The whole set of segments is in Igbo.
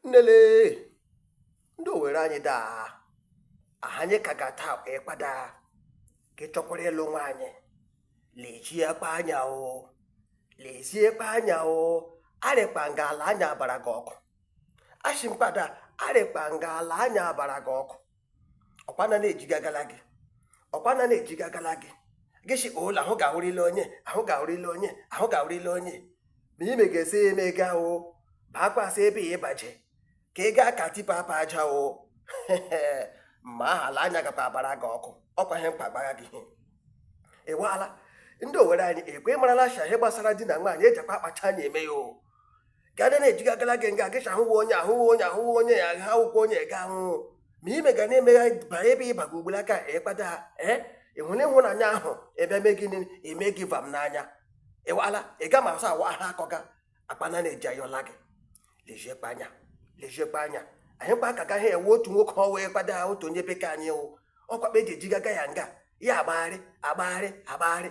nnele ndị owere anyị daa ahanye ka ga taa ịkpada gị chọkwara ịlụ nwaanyị lejiekpa anya o leziekpa anya o arịkpa nga ala anya abara gị ọkụ ashi m kpada arịkpa nga ala anya abara gị ọkụ ọkwa na na-ejigagala gị ọkwa na na-ejigagala gị gị si ụlọ ahụ ga-awụrịla onye ahụ ga-awụrịla onye ahụ ga-awụrịla onye ma ime ga-esi ya eme gaa o baakwasị ebe ya ịbaje ka ị gaa ka tipa apa aja o ma aha ala anya gakwa abara gị ọkụ ọkwa ihe mkpa gbagha gị ịwaala ndị owere anyị ọkwa ịmarala shi ihe gbasara di na nwaanyị ejikwa akpacha anya eme ya o gana na-ejigagala gị nga gịcha ahụwa onye ahụwa onye ahụwa onye ya ha akwụkwọ onye ga ahụhụ ma ime ga na-emegha ba ebe ịba gị ugboro aka ịkpada ha ee ịhụna ịhụnanya ahụ ebe me gị eme gị vam n'anya ịwala ịga ma asa awa ha akọga akpana na-eji ayọla gị lejiekpa anya lejiekpa anya anyị kpa aka gaghị ewe otu nwoke ọwa ịkpada ha otu onye bekee anyị wụ ọkwakpa eji ejigaga ya nga ya agbagharị agbagharị agbagharị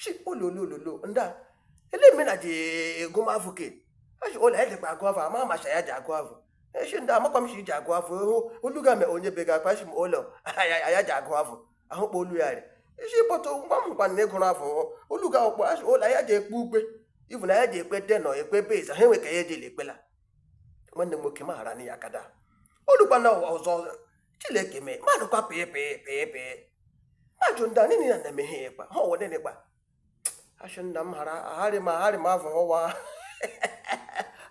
shi ololololo ndị a ele eme na ji agụ m avụ ke eshi ụlọ ya jikwa agụ avụ ama macha ya ji agụ avụ eshi ndị amakwa m shi ji agụ avụ hụ olu ga me onye be ga-akwa shi m ụlọ ya ji agụ avụ ahụ kpọ olu ya rị isi bọtụ ngwa m gwa na ịgụrụ avụ olu ga ọkpọ ashi ụlọ ya ji ekpe ukpe ibu na ya ji ekpe tenor ekpe bass ha enwe ka ya ejela ekpela nwanne m nwoke maghara na ya kada olukwana ọzọ chineke mee mmadụ kwa pịị pịị pịị pịị mmadụ ndị a niile na na-emeghe ya ịkpa ha ọwụ nene kpa asị nna m hara aharị ma aharị ma afọ hụwa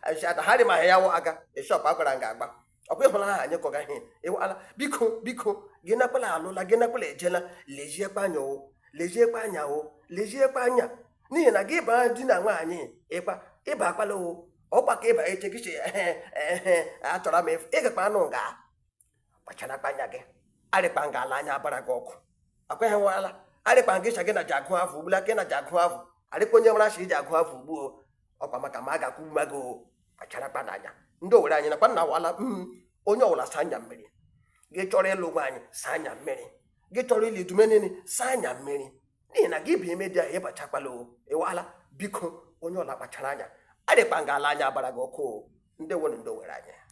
ashata harị ma ya wụ aga eshọp agwara nga agba ọkwa ịhụla ha anyị kọga ihe ịwala biko biko gị nakwala alụla gị nakwala ejela leziekwa anya o leziekwa anya o leziekwa anya n'ihi na gị baa di na nwaanyị ịkpa ịba akwala o ọkwa ka ịba eche gị che ehe ehe achọrọ m ịfụ ịgakwa anụ nga kpacharakpa anya gị arịkpa nga ala anya abara gị ọkụ akweghị nwala arịkpa nga ịcha gị na ji agụ avụ ugbula gị na ji agụ avụ arịkpa onye nwere asị iji agụ avụ ugbu o ọkwa maka ma a ga-akwụ mma gị o kpacharakpanụ anya ndị owere anyị nakwa nna wala mm, onye ọwụla saa anya mmiri gị chọrọ ịlụ nwaanyị saa anya mmiri gị chọrọ ịlụ di me niile saa anya mmiri n'ihi na gị baa ime di ahụ ịbachakwala o ịwala biko onye ọwụla kpachara anya adịkpa nga ala anya abara gị ọkụ o ndị nwere ndị owere anyị